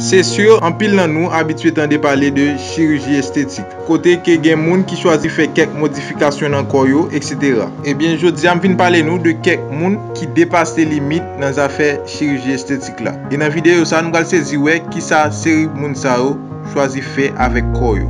Se sur, anpil nan nou abitye tande pale de chiriji estetik, kote ke gen moun ki chwazi fè kèk modifikasyon nan kò yo, eksetera. Ebyen, jodi a m vin pale nou de kèk moun ki depase limit nan zafè chiriji estetik la. E nan videyo sa nou pral sezi wè kisa seri moun sa yo chwazi fè avèk kò yo.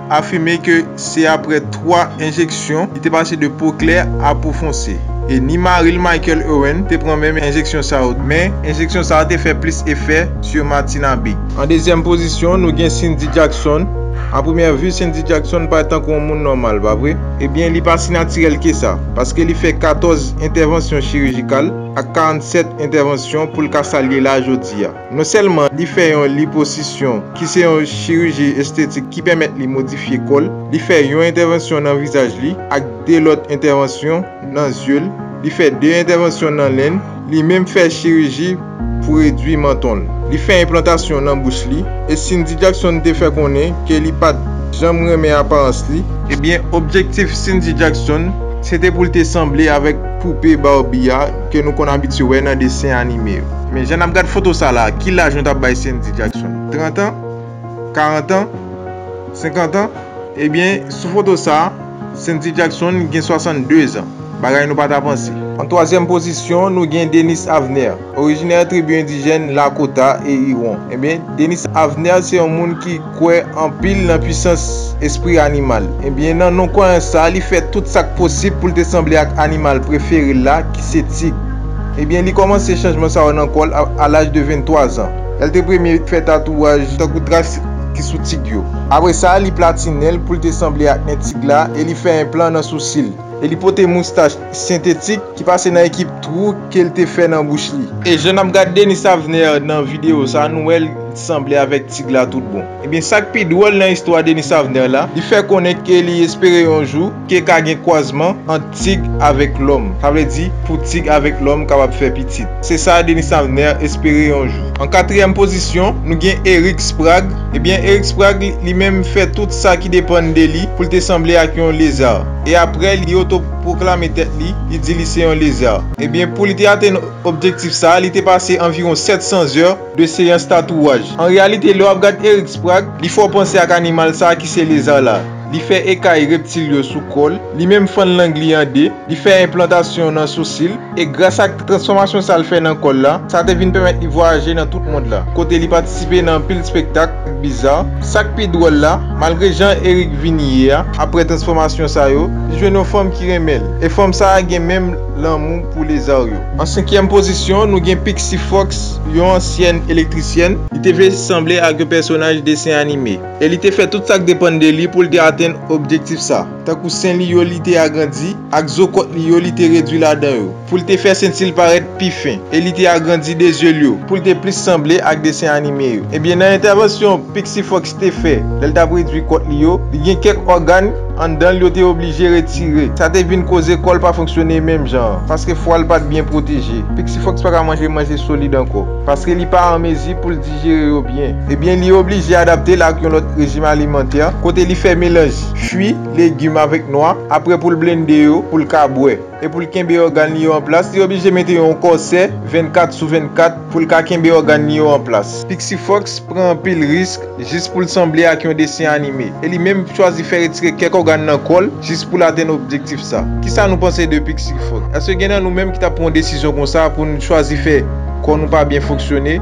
afime ke se apre 3 enjeksyon li te pase de po klè a po fonse, e ni mari l Michael Owen te pran menm enjeksyon sa yo, men enjeksyon sa a te fè plis efè su Martina Bigg. An dezyèm pozisyon, nou gen Cindy Jackson, a premyè vu Cindy Jackson parèt tankou yon moun nòmal, pa vre? Ebyen li pa si natirèl ke sa, paske li fè 14 entèvansyon chirijikal ak 47 entèvansyon pou l ka sa l ye la jodi a. Non sèlman li fè yon liposisyon ki se yon chiriji estetik ki pèmèt li modifye kò l, li fè yon entèvansyon nan vizaj li ak 2 lòt entèvansyon nan zye l, li fè 2 entèvansyon nan nen l, li menm fè chiriji pou redwi manton l. Li fè enplantasyon nan bouch li e Cindy Jackson te fè konnen ke li pat janm renmen aparans li, ebyen objektif Cindy Jackson se te pou l te sanble avèk poupe Barbie a ke nou konn abitye wè nan desen anime yo. Men jan nap gad foto sa la, ki laj nou tap bay Sendy Jackson? 30 ans? 40 ans? 50 ans? Ebyen, sou foto sa, Sendy Jackson gen 62 ans, bagay nou pa ta panse. An twazyèm pozisyon, nou gen Denis Avner, orijinè tribi endijèn Lakota e Iwon. Ebyen, Denis Avner se yon moun ki. kwè anpil nan pwisans espri animal. Ebyen, nan non kwayans sa a, li fè tout sa k posib pou l te sanble ak animal prefere l la, ki se tig. Ebyen, li kòmanse chanjman sa yo nan kò l a laj de 23 zan. L te premye fè tatouaj tankou tras ki sou tig yo. Apre sa, li platinen l pou l te sanble ak nen tig la e li fè enplan nan sousi l. E li pote moustach sentetik ki pase nan ekip twou ke l te fè nan bouch li. E jan n ap gad Denis Avner nan videyo sa, nou wè l sanble avèk tig la tout bon. Ebyen sa k pi dwòl nan istwa Denis Avner la, li fè konnen ke li espere yon jou ke ka gen kwazman ant tig avèk lòm. Sa vle di, pou tig avèk lòm kapab fè pitit. Se sa Denis Avner espere yon jou. An katriyèm pozisyon, nou gen Eric Sprague. Ebyen Eric Sprague li menm fè tout sa ki depann de li pou l te sanble ak yon lezard. e apre li otopwoklame tèt li, li di li se yon lezè. Ebyen, pou li te atenn objektif sa a, li te pase anviwon 700 zè de seyans tatouwaj. An reyalite, lè w ap gad Eric Sprague, li fè w panse ak animal sa a ki se lezè la. Li fè ekay reptil yo sou kò l, li menm fann lang li an de, li fè enplantasyon nan sousi l, E gras ak transfòmasyon sa l fè nan kò l la, sa te vin pèmèt li vwayaje nan tout mond la, kote li patisipe nan anpil spektak ak biza. Sa k pi dwòl la, malgre jan Erick vin ye a, aprè transfòmasyon sa yo, li jwenn yon fanm ki renmen l, e fanm sa a gen menm lanmou pou lezar yo. An senkyèm pozisyon, nou gen Pixie Fox, yon ansyèn elektrisyèn. Li te vle sanble ak yon pèsonaj desen anime, e li te fè tout sa k depann de li pou l te atenn objektif sa. Tankou sen li yo li te agrandi, ak zo kòt li yo li te redwi ladan yo, pou l te fè senti l parèt pi fen, e li te agrandi de zye l yo, pou l te plis sanble ak desen anime yo. Ebyen, nan entèvansyon Pixie Fox te fè lè l t ap redwi kòt li yo, li gen kèk ògàn anndan l yo te oblije retire. Sa te vin koze kò l pa fonksyone menm jan an, paske fwa l pa t byen pwoteje. Pixie Fox pa ka manje manje solid ankò, paske li pa an mezi pou l dijere yo byen. Ebyen, li oblije adapte l ak yon lòt rejim alimantè, kote li fè melanj. fwi, legim avèk nwa, aprè pou l blende yo pou l ka bwè. E pou l kenbe ògàn li yo an plas, li oblije mete yon kòsè 24 sou 24 pou l ka kenbe ògàn li yo an plas. Pixie Fox pran anpil risk jis pou l sanble ak yon desen anime, e li menm chwazi fè retire kèk ògàn nan kò l jis pou l atenn objektif sa. Kisa nou panse de Pixie Fox? Èske gen nan nou menm ki t ap pran yon desizyon konsa pou n chwazi fè kò nou pa byen fonksyone?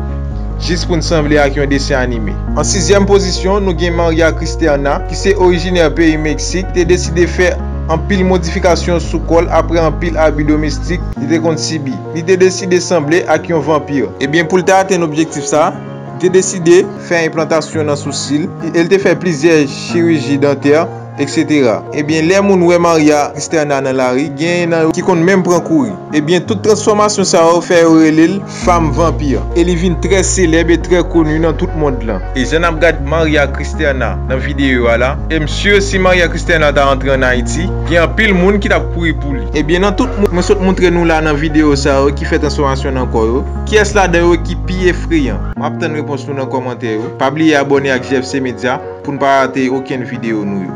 jis pou n sanble ak yon desen anime. An sizyèm pozisyon, nou gen Maria Cristerna, ki se orijinè peyi Meksik, te deside fè anpil modifikasyon sou kò l apre anpil abi domestik li te konn sibi. Li te deside sanble ak yon vanpir. Ebyen, pou l te atenn objektif sa, li te deside fè enplantasyon nan sousi l e l te fè plizyè chiriji dantè. Etc ebyen lè moun wè Maria Xterna nan lari genyen nan yo ki konn menm pran kouri ebyen tout transfòmasyon sa yo fè yo rele l Fam Vanpir e li vin trè selèb e trè koni nan tout mond lan. E jan nap gad Maria Xterna nan videyo a la em sur si Maria Xterna ta antre an Ayiti gen anpil moun ki tap kouri pou li ebyen nan tout moun mwen sot moutre nou la nan videyo sa yo ki fè transfòmasyon nan kò yo kiyès ladan yo ki pi efreyan? Map tann repons nou nan kòmantè yo pa bliye abòne ak JFC Media. Poun pa rate okenn video nou yo.